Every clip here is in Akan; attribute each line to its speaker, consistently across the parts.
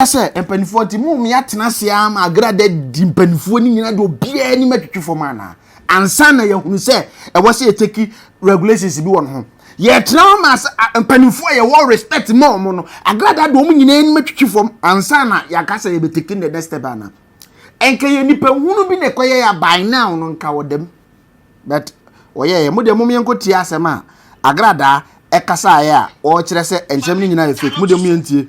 Speaker 1: ka sɛ, Mpanimfoɔ nti, mo mmea tena ase ara ma agra da di mpanimfoɔ no nyinaa de obiara anim atwitwi fam anaa? Ansa na yɛahunu sɛ ɛwɔ sɛ yɛtaki regulations bi wɔ no ho. Yɛtena hɔ ma mpanimfoɔ a yɛwɔ respect ma wɔn no, agra da de wɔn nyinaa anim atwitwi fam ansa na yɛaka sɛ yɛbɛtaki the next step anaa? Ɛnka yɛ nipa hunu bi na ɛkɔyɛ yɛ by now no nka wɔ dɛm. But wɔyɛ yɛ mo deɛ mom yɛnkɔ tie asɛm a agradaa ɛkasaeɛ a wɔkyerɛ sɛ nsɛm no nyinaa yɛ fake mo deɛ mo yɛntie.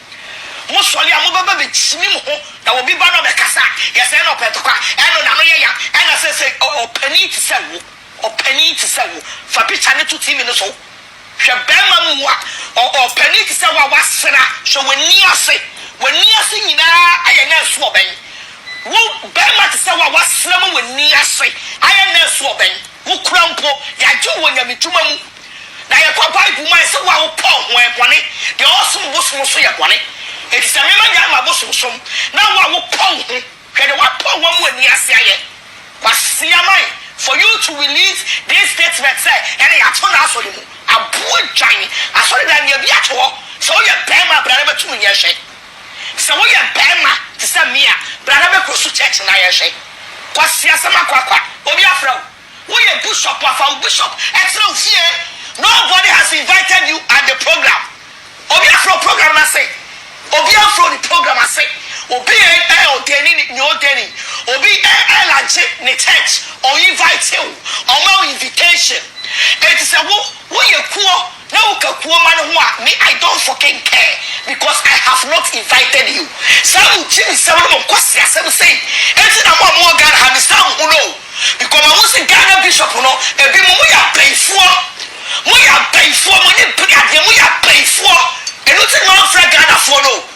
Speaker 2: Mo sɔre a, mobɛba bɛkyimi mo ho, na obi ba na ɔbɛkasa a, yɛsɛ ɛna ɔpɛ ntɔkwa, ɛna n'ano yɛ yan, ɛna seesei ɔ, ɔpanin te sɛ wo, ɔpanin te sɛ wo, fa pikya no to TV no so, hwɛ barima mua, ɔ, ɔpanin te sɛ wo a woasera, hwɛ w'ani ase, w'ani ase nyinaa ayɛ nɛ nso ɔbɛn, wo, barima te sɛ wo a woasera ma w'ani ase ayɛ nɛ nso ɔbɛn. Wo kura mpo, yɛagye wo wɔ nyamedwuma mu, na yɛkɔ Bible mu ayɛ sɛ wo a wopɛ ɔho ɛ bɔne, deɛ ɔresom bosom nso yɛ bɔne, enti sɛ mema nyae m'abosomsom, na wo a wopɛ wo ho, hwɛ deɛ woapɛ wo amu ani ase ayɛ. Kwasi Aman, for you to release this statement sɛ ɛnna yɛato no asɔre mu, aboa dwan, asɔredan deɛ bi ato hɔ, sɛ woyɛ barima a bra na bɛto wo nyɛ hwɛ. Sɛ woyɛ barima te sɛ me a, bra na bɛkɔ su church na yɛnhwɛ. Kwasi Asama Kwakwa, obi afrɛ wo? Woyɛ bishop a, fa wo bishop tra wo fie. Nobody has invited you at the program. Obi afrɛ wo program no ase? Obi amfrɛ wo ne program ase. Obi ɛ ɛ ɔdani ne ne ɔdani. Obi ɛ ɛ lanche ne church, ɔinvite wo, ɔma wo invitation. Enti sɛ wo woyɛ kuo, Na wo ka kuoma no ho a me I don't fucking care because I have not invited you saa mo gym nsɛm no mo nkwasi asɛm sei nti na mo a mo wɔ Ghana ha me san mo ho no o because ma hu se Ghana bishop no ebi mo mo yɛ apayifoɔ mo yɛ apayifoɔ mo ani bere adeɛ mo yɛ apayifoɔ eno nti na ma nfrɛ Ghanafoɔ no o.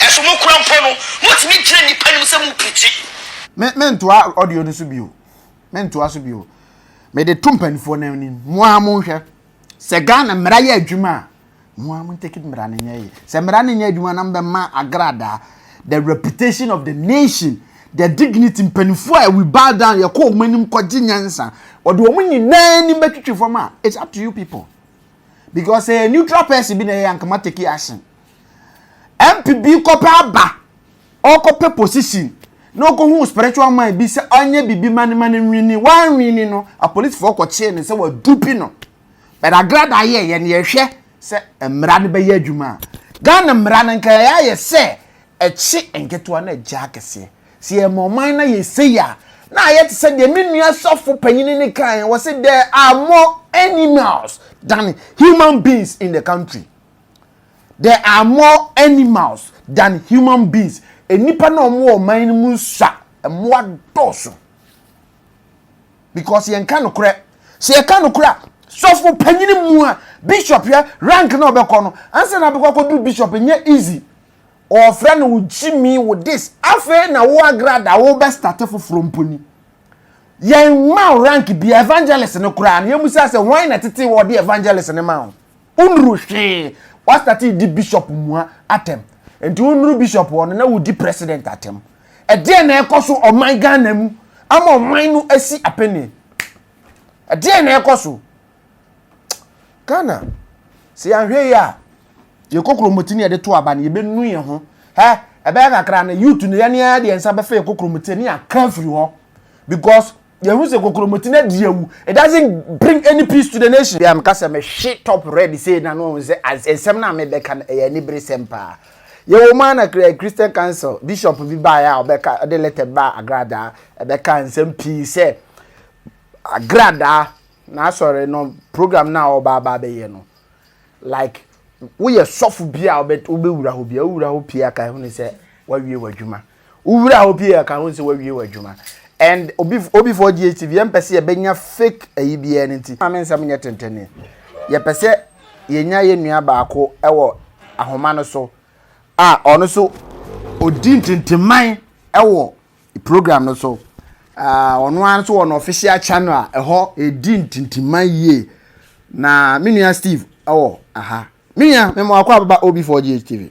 Speaker 2: Ɛso mo kura mpo no mo tumi gyina nipa anim sɛ mo pirikyi. Me me ntoa
Speaker 1: audio no so bio me ntoa so bio me de to mpanimfoɔ no anim mo ara mo nhwɛ sɛ Ghana mmara yɛ adwuma a mo ara mo take it mmara no nyɛ yɛ sɛ mmara no nyɛ adwuma na mbɛ ma agradaa the reputation of the nation the dignity mpanimfoɔ a we bow down yɛ kɔ wɔn anim kɔ gye nyansa wɔde wɔn nyinaa anim bɛtwitwi fam a it's up to you people because sɛ neutral person bi na ɛyɛ ankama take action MP bi kɔpɛ aba, ɔkɔpɛ position na ɔkɔhu spiritual man bi sɛ ɔnyɛ biribi ma no ma no nwini. Wanwini no, apolisifoɔ kɔkyee no sɛ wadupi no. But agrada yɛ yɛn yɛhwɛ sɛ mmara no bɛyɛ adwuma a. Ghana mmara no nka ɛyɛ ayɛ sɛ ɛkye nketewa na ɛgye akɛseɛ. Sɛ yɛma ɔman no ayɛ sei a, na ayɛ te sɛ deɛ me nua sɔfo panyin no kaeɛ, ɔse there are more animals than human beings in the country. There are more animals than human beings. Nnipa na wɔn wɔ ɔman no mu nsua. Mmoa dɔɔso. Because yɛnka nokorɛ. Sɛ yɛka nokorɛ a, sɔfo panyin mu a bishop yɛ rank na ɔbɛkɔ no, ansa na abɛkɔ akɔduru bishop nyɛ easy. Ɔfrɛ no wo gyimi wo this. Afei na wo agrada wo bɛ start foforɔ mpo ni. Yɛn ma rank bi evangelist no koraa no yɛn mu sɛ sɛ wɔn na tete wɔ de evangelist no ma wɔn. Wonuru hwee. Wastate di bishop mua atɛm. Nti wonuru bishop hɔ no na wodi president atɛm. Ɛdeɛn na ɛkɔ so ɔman Ghana mu ama ɔman no asi apenee? Ɛdeɛn na ɛkɔ so? Ghana, sɛ yɛanhwɛ yi a, yɛ kokromoti ne yɛde to aba no yɛbɛnu yɛn ho. Hɛ, ɛbɛyɛ kakra no youth no yɛne ara deɛ nsa bɛfa yɛ kokromoti ne yɛaka afiri hɔ because yɛhu sɛ kokromoti no adi awu it doesn't bring any peace to the nation bia meka sɛ mehwe top red sei na no ɔhu sɛ nsɛm no a mebɛka no ɛyɛ anibere sɛm paa yɛwɔ mu ana christian council bishop bi baeɛ a ɔbɛka ɔde letter bi baa agradaa ɛbɛka nsɛm pii sɛ agradaa na asɔre no program no a ɔba aba bɛyɛ no like woyɛ sɔfo bi a wobɛwura hɔ bi a wowura hɔ pii aka ɛho ne sɛ wawie w'adwuma Wo wura hɔ pii a ka ho nsɛ wawie w'adwuma and obi obi for DHTV yɛn pɛ sɛ yɛbɛnya fake ayi biara no nti maame nsɛm nyɛ tentene yɛpɛ sɛ yɛnya yɛn nua baako wɔ ahoma no so a ɔno so ɔdi ntenteman wɔ program no so ɔno ara nso wɔ no official channel a ɛhɔ ɛdi ntenteman yie na me nua Steve ɛwɔ aha me nua mema wakɔ ababa obi for DHTV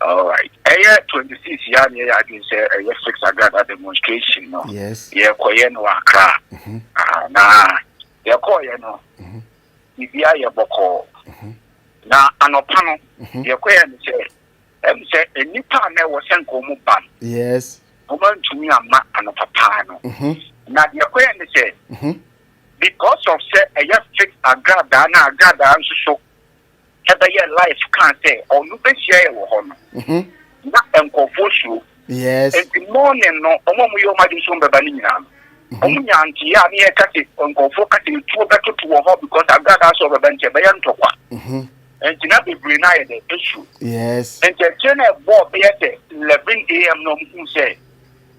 Speaker 1: Alright
Speaker 3: ɛyɛ twenty six yɛ a na yɛyɛ adwene sɛ ɛyɛ fix agrada demonstration no yɛkɔyɛ no
Speaker 1: wɔ akra
Speaker 3: na yɛkɔɔyɛ no biribi ayɛ bɔkɔɔ na anɔpa no yɛkɔyɛ no sɛ ɛmu sɛ nnipa a na ɛwɔ sɛ nka wɔn ba no wɔn
Speaker 1: antumi
Speaker 3: ama anɔpa paa no na yɛkɔyɛ no sɛ because of sɛ ɛyɛ fix agradaa na agradaa nso so ɛbɛyɛ live kaa sɛ ɔno bɛhyia yɛ wɔ hɔ no na nkurɔfoɔ suro nti
Speaker 1: morning no
Speaker 3: ɔmo a moyɛ ɔmo ade nso bɛba no nyinaa no ɔmo nya nteɛ a ne yɛ kase nkurɔfoɔ kase etuo bɛtoto wɔ hɔ because agradaa sɛ ɔbɛba nti ɛbɛyɛ ntɔkwa nti na bebree no ayɛ dɛ esuro nti
Speaker 1: ɛkyɛ na ɛbɔɔ
Speaker 3: bɛyɛ sɛ eleven am na ɔmo hu sɛ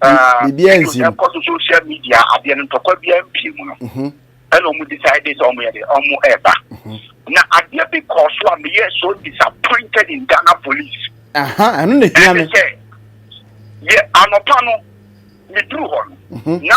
Speaker 3: biribiara nsi mu. ɛkɔ so social media adeɛ no ntɔkwa biara mpie mu no mhm. ɛna ɔmo decide sɛ ɔmo yɛ de ɔmo ɛɛba mhm. na adeɛ bi kɔɔ so a meyɛ so disappointed in Ghana police. ɛno na
Speaker 1: ehia mi. ɛne sɛ
Speaker 3: yɛ anɔpa no meduru hɔ no mhm. na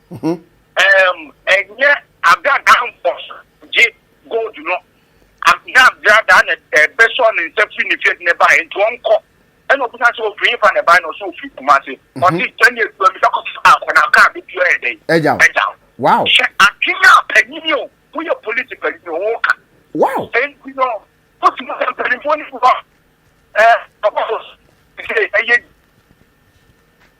Speaker 3: Mhm. Ɛɛm, ɛnyɛ abradaa mfɔso gye gold no. Am, na abradaa na ɛbɛsɔ ne nsa firi ne fie de ne baeɛ nti ɔnkɔ. Ɛna ɔbisa sɛ ɔfiri hefa na ɛbaeɛ na ɔsɛ ɔfiri Kumase. Mhm. Ɔse sɛ ne adua misa kɔ sɛ akɔ na kaa bɛtua yɛ dɛn? Agya wo. Agya wo. Wow. Hyɛ
Speaker 1: adwene a
Speaker 3: panyini o, woyɛ polisi panyini o, woka. Wow. Enti
Speaker 1: no,
Speaker 3: wotumi sɛ mpanimfoɔ no bi hɔ a, ɛɛ, ɔbɔfo, ɛsɛ ɛyɛ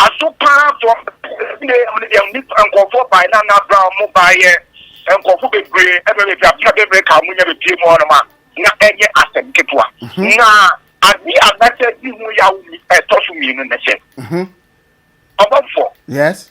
Speaker 3: Aso paa fɔɔ me ɛne me deɛ nipa nkɔfoɔ baɛ na na bra ɔmo baɛ yɛ nkɔfo bebree ɛbɛ bɛ fia fia bɛ bɛ ka ɔmo nya bɛ pie mu hɔ nom a na ɛnyɛ asɛm ketewa na ade a na sɛ di ho yawo ɛtɔ so mmienu ne sɛ ɔbɔfoɔ. Yes.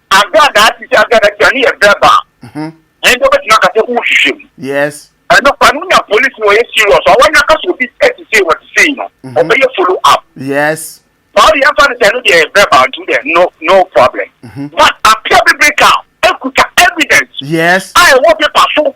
Speaker 3: Agya a daakye si agya n'akyi a, ne yɛ verbal. Mhm. Yɛn deɛ wobɛtumi aka sɛ wohwehwɛ mu. Yes. Ɛno
Speaker 1: pa no nya
Speaker 3: polisi wɔyɛ serious a wɔnyɛ aka sɛ obi ɛte sei wɔte sei no mhm. ɔbɛyɛ follow up. Yes. Ba
Speaker 1: ɔde yɛn fa no
Speaker 3: sɛ ɛno deɛ yɛ verbal nti deɛ no no problem. Mhm. But apia bebree ka ekuta evidence. Yes. A
Speaker 1: ɛwɔ paper so.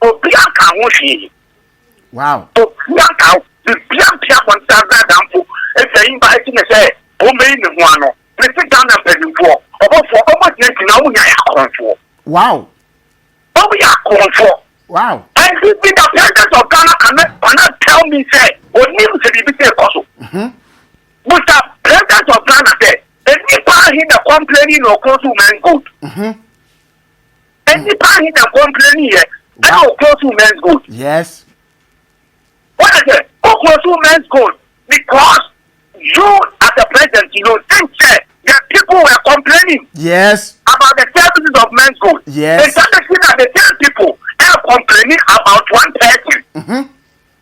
Speaker 3: Obia nka ho hwee. Wow. Obia nka ho. Bibia mpia abɔnten adza adamfo edzi ayimba edzi ne sɛ omeyi ne ho ano. Mese Ghana mpanyinfoɔ, ɔbɔfoɔ, ɔmɔ gyina gyina ɔmo nyinaa yɛ akorɔnfoɔ. Wow. Ɔmo yɛ akorɔnfoɔ. Wow. And the, the, the president of Ghana cannot, cannot tell me sɛ onim sɛ biribi sɛ ɛkɔ so. Busa president of Ghana sɛ enipa ahe na complaining na ɔkɔn so man good. Nnipa ahe na kɔmpleni yɛ ɛna ɔkuro so men's gold. Yes. Wọ́n yẹ sẹ́, ɔkuro so men's gold because you as a president you know think sẹ́ the people were complaining. Yes. About the services of men's gold. Yes. Nta bẹ si na the same people ẹ complaining about one person. Mm-hmm.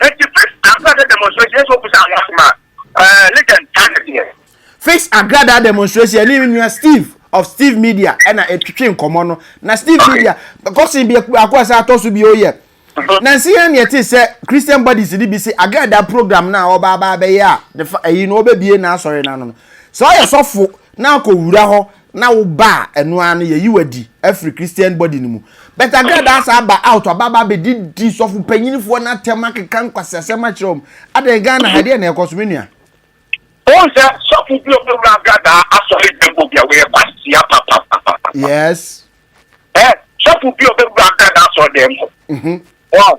Speaker 3: Enti fix agradaa demonstration yɛ sɛ obu saa ho asɛm a ɛɛ legend taa ne deɛ. Fix agradaa demonstration yɛ ne nua Steve of Steve Media ɛna etwitwi nkɔmɔ no na Steve Media kɔsen biako baako a sɛ atɔ so bio yɛ nansi yɛn deɛ te sɛ Christian Buddies ne bi se agradaa program no a ɔba aba abɛyɛ a ne fa ɛyi no ɔbɛ bie n'asɔre no ano no sɛ ɔyɛ sɔfo na akɔ wura hɔ na wo ba a ɛno ara no yɛyi wadi afiri christian body no mu but agradaa saa ba out aba aba abɛdi di sɔfo panyinifoɔ no atɛm akeka nkwaseasɛm akyerɛ wɔn adɛn ghana ha deɛ na ɛkɔ so me nua wọn sɛ sɔfo bi obi wura agradaa asɔre dɛm obi a wɔyɛ kwasia papapapa. yes. ɛ sɔfo bi obi wura agradaa asɔre dɛm. Mhm. wɔn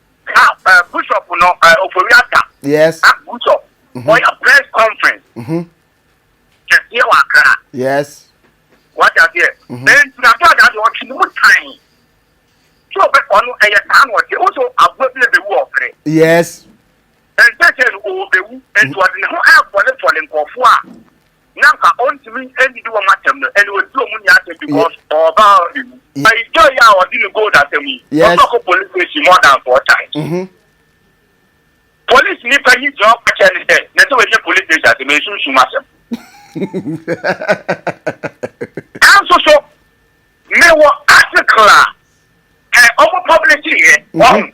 Speaker 3: Ka eh, Bishop no eh, Ofori Ata. Yes. Ah,
Speaker 1: Bishop. Mm -hmm.
Speaker 3: Ɔyɛ press conference. Mm -hmm. Kɛseɛ wɔ Accra. Yes.
Speaker 1: Wate
Speaker 3: aseɛ. Mm -hmm. Ɛnti na George adi ɔtwe ne mu tan. Tí o bɛ ɔno ɛyɛ saa na ɔte. Woso aboa bi ebewu ɔfere. Yes.
Speaker 1: Ɛnsɛ
Speaker 3: sɛ no ɔbɛwu. Ɛnti ɔde ne ho ɛfɔlefɔle nkɔfoɔ a na nka ɔntumi nnidi wɔn atɛm no, ɛnna ɔdi wɔn nyinaa atɛm because ɔwɔ valor de mu. But he joy a ɔde ne gold asɛm yi, ɔtɔ kɔ police station
Speaker 1: more
Speaker 3: than four times. Mm-hmm. Police ni panyin gyina ɔkɔ kyɛn ne sɛ, na sɛ wɔnyɛ police station asɛm, ɛnsunsum asɛm. Nanso so, mewɔ article a, ɛ ɔmo publish yɛ, wɔn.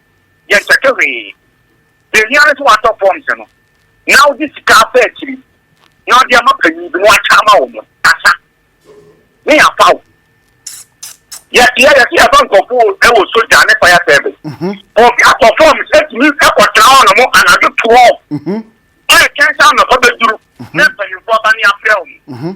Speaker 3: yɛnkyɛke hwee. Deɛ ɛhia ne sɛ woatɔ forms no na wode sika afa akyiri na wode ama panyin bi na wakyɛ ama wo no asa ne yɛafa wo. Yɛteɛ yɛte yɛfa nkɔfo wɔ sogya ne fire service. Mhm. Obi atɔ forms atumi ɛkɔtena hɔ no mo anadwo toɔ. Mhm. Ɛyɛ kɛnsa anɔpa bɛduru mhm. na mpanyinfoɔ ba ne afrɛ wo.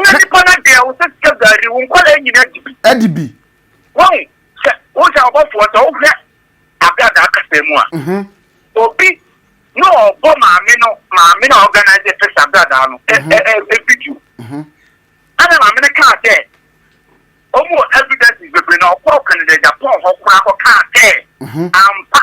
Speaker 1: Na nipa no deɛ wo sɛ sika gari wo nkwadaa nyina adi bi. Adi bi. Wɔn
Speaker 3: sɛ wo sɛ ɔbɔfoɔ sɛ wohwɛ abrada akasa mu a. Mhm. Obi na ɔbɔ maame no maame na organize fix abrada no ɛ mhm. ɛ ɛ video. Mhm. Ana maame no kaa sɛ wɔn wɔ evidence bebree na ɔkɔɔ Canada Japan hɔ koraa kɔ kaa sɛ mhm. ampa.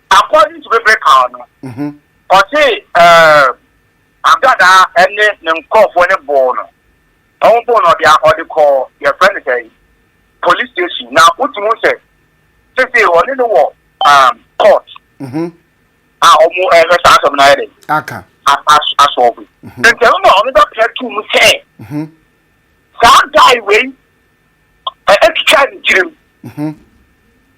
Speaker 1: According
Speaker 3: to Biblical no, ɔse Abdadah ne ne nkorɔfoɔ no boo no, ɔmo boo no ɔde ɔde kɔɔ yɛfrɛ no sɛn police station na wotumi hu sɛ sesei ɔne no wɔ court a ɔmo ɛhwɛ saa asɛm no ayɛ dɛ aka asɔɔbo nti ɛno na ɔno bɛpɛ to mu sɛ saa guy wei ɛtwitwa ne tirim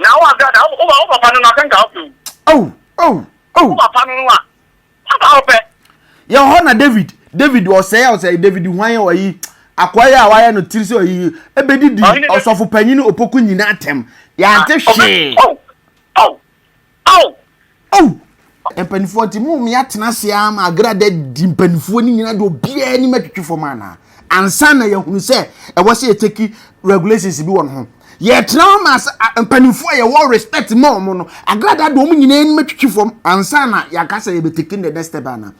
Speaker 3: Na wo ase ada,
Speaker 2: wo wo papa
Speaker 3: no na sɛ nka wopɛ wu. Ao, ao, ao. Wo papa no a, sɛ wopɛ.
Speaker 2: Yɛ hɔ na David, David ɔsɛe a ɔsɛe David hwan yɛ ɔyi akoa yɛ a wayɛ no tiri sɛ ɔyi ebedidi ɔsɔfo panyin opoku nyinaa atɛm yɛante hwee. Ao! Ao! Mpanimfoɔ nti mo mmea atena ase ara ma agrada di mpanimfoɔ no nyinaa de obiara anim atwitwi fam anaa ansa na yɛhunu sɛ ɛwɔ sɛ yɛteki regulations bi wɔ no ho yɛtena hɔ ma mpanimfoɔ a yɛwɔ respect ma wɔn no agrada de wɔn nyinaa anim atwitwi fam ansa na yɛaka sɛ yɛbɛteki the next step anaa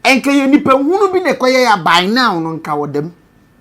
Speaker 2: ɛnka yɛ nipa hunu bi na ɛkɔyɛ yɛ by now no nka wɔ dɛm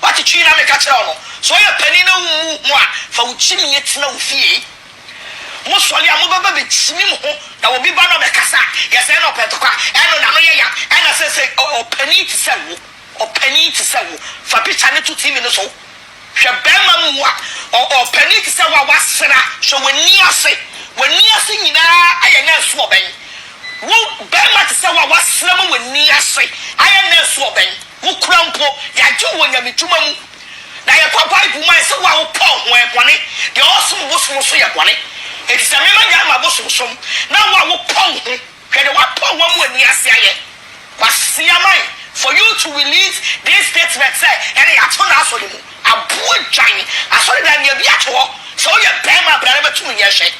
Speaker 2: Woakyikyiri na meka kyerɛɛ wo no. Sɛ woyɛ panin na wommu ho a, fa wo kyimie tena wo fie. Mosɔre a, mobɛba bɛkyimim ho, na obi ba na ɔbɛkasa a, yɛ sɛ ɛna ɔpɛ ntɔkwa, ɛna n'ano yɛ yam, ɛna seesei ɔ, ɔpanin te sɛ wo, ɔpanin te sɛ wo. Fa pikya no to TV no so. Hwɛ barima mua, ɔ, ɔpanin te sɛ wo a woasera, hwɛ w'ani ase. W'ani ase nyinaa ayɛ nɛɛso ɔbɛn. Wo, barima te sɛ wo a woasera ma w'ani ase ayɛ nɛɛso ɔbɛn. Wo kura mpo, yɛagye wo wɔ nyamedwuma mu, na yɛkɔ Bible man sɛ wo a wopɛ ɔho ɛ bɔne, deɛ ɔresom bosom nso yɛ bɔne, enti sɛ mema nyae m'abosomsom, na wo a wopɛ wo ho, hwɛ deɛ woapɛ wo amu ani ase ayɛ. Kwasea man, for you to release this statement sɛ ɛnɛ yɛato no asɔre mu, aboa dwan, asɔredan deɛ bi ato hɔ, sɛ woyɛ barima a bra na bɛto wo nyɛ hwɛ.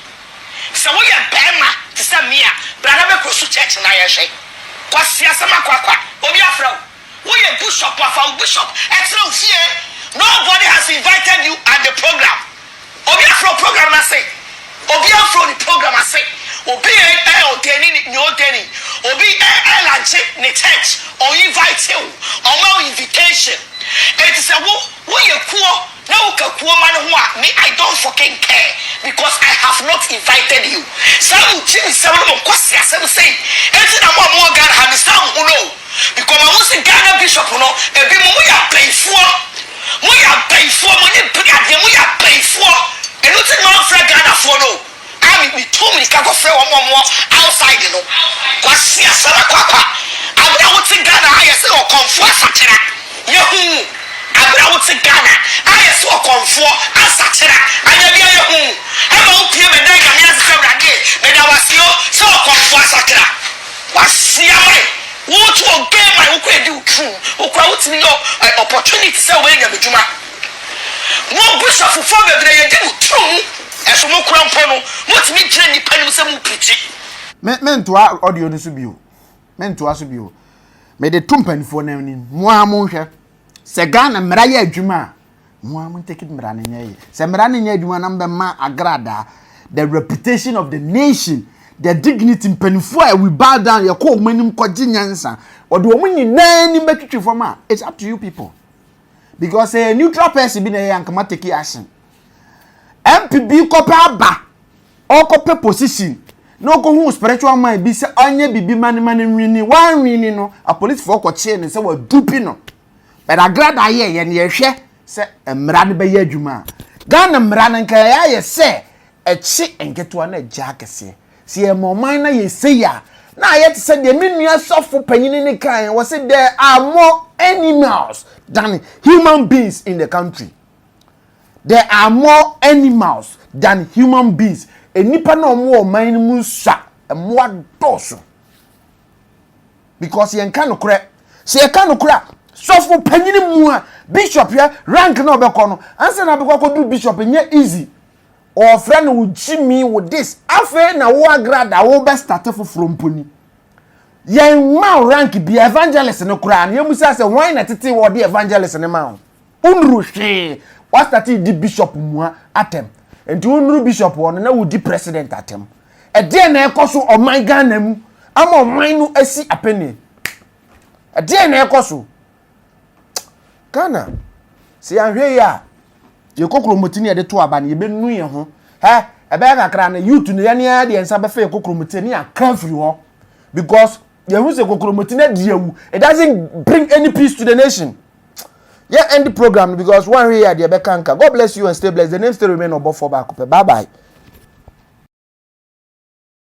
Speaker 2: Sɛ woyɛ barima te sɛ me a, bra na bɛkɔ su church na yɛnhwɛ. Kwasi Asama Kwakwa, obi afrɛ wo? Woyɛ bishop a, fa wo bishop tra wo fie. Nobody has invited you at the program. Obi afrɛ wo program no ase? Obi amfrɛ wo ne program ase. Obi ɛ ɛ ɔdani ne ne ɔdani. Obi ɛ ɛ lanche ne church, ɔinvite wo, ɔma wo invitation. Enti sɛ wo. Wo yɛ kuo na wo ka kuo ma no ho a me I don't fucking care because I have not invited you saa mo gyimi nsɛm no mo nkwasi asɛm sei nti na mo a mo wɔ Ghana ha me saa mo ho no o because ma hu se Ghana bishop no ebi mo mo yɛ apayifoɔ mo yɛ apayifoɔ mo nye bere adeɛ mo yɛ apayifoɔ eno nti na ma nfra Ghana foɔ no o. a me metuu mirika kɔfrɛɛ wɔn a wɔwɔ outside no, Kwasia Sarah Kwakwa, aberɛ a wote Ghana a yɛse Ɔkɔmfoɔ Asakyera, yɛhuu aberɛ a wote Ghana a yɛse Ɔkɔmfoɔ Asakyera, anyɛ bia yɛhuu ɛma wopie bɛdaa Nyame ase sɛ Awurade meda wo ase o sɛ Ɔkɔmfoɔ Asakyera, Kwasia my woto game my wokɔ edi wo drum, wokora wotumi yɛ opportunity sɛ wobɛyɛ Nyame dwuma. Mo abusuafofoɔ bebree yɛdi mo turo mu ɛso mo kura mpo no mo tumi gyina nipa anim sɛ mo pirikyi. Me me ntoa
Speaker 1: audio no so bio me ntoa so bio me de to mpanimfoɔ no anim mo ara mo nhwɛ sɛ Ghana mmara yɛ adwuma a mo ara mo ntɛki mmara no nyɛ yɛ sɛ mmara no nyɛ adwuma na mo bɛ ma agradaa the reputation of the nation the dignity mpanimfoɔ a we bow down yɛ kɔ wɔn anim kɔ gye nyansa wɔde wɔn nyinaa anim bɛtwitwi fam a it's up to you people because sɛ yɛ neutral person bi na ɛyɛ anka ma take action mp bi kɔpɛ aba ɔkɔpɛ position na ɔkɔhu spiritual man bi sɛ ɔnyɛ biribi ma ne ma no nwini wanwini no apolisifoɔ kɔkyee no sɛ wadupi no but agrada ayɛ yɛ ne yɛhwɛ sɛ mmara no bɛyɛ adwuma a ghana mmara no nka ɛyɛ ayɛ sɛ ɛkye nketewa na ɛgya akɛseɛ Sɛ yɛma ɔman na yɛ sei a, na ayɛ te sɛ deɛ me nua sɔfo panyin no kae, wɔ se there are more animals than human beings in the country. There are more animals than human beings. Nnipa na wɔn wɔ ɔman no mu nsua, mmoa dɔɔso. Because yɛnka nokorɛ. Sɛ yɛka nokorɛ a, sɔfo panyin mu a, bishop yɛ rank na ɔbɛkɔ no, ansa na abɛkɔ akɔduru bishop, ɛnyɛ easy. Wɔfrɛ no wo gyimi, wo this. Afei na wo agrad a wobɛstate foforɔ mpo ni. Yɛmma wo rank bia, evangelist no koraa no yɛmmisa sɛ hwan na ɛtetee wo a ɔde evangelist no maa wo? Wonnuru hwee. Woastate redi bishop mua atɛm. Nti wonnuru bishop hɔ no na woredi president atɛm. Ɛdeɛn na ɛrekɔ so ɔman Ghana mu ama ɔman no asi apenneɛ? Ɛdeɛn na ɛrekɔ so? Ghana, sɛ yɛanhwɛ yie a, yɛkɔ kuromoti ne yɛde to aba no, yɛbɛnu yɛn ho. Hɛ, ɛbɛyɛ kakra no, youth no yɛne ara deɛ nsa bɛfɛ yɛkɔ kuromoti ne yɛakra firi hɔ. Because yɛhu sɛ kokuromoti no adi awu. It doesn't bring any peace to the nation. Yɛ end program no because woanhwɛ yie a deɛ ɛbɛka nka. God bless you and stay blessed. The name still remain ɔbɔfoɔ baako pɛ. Bye bye.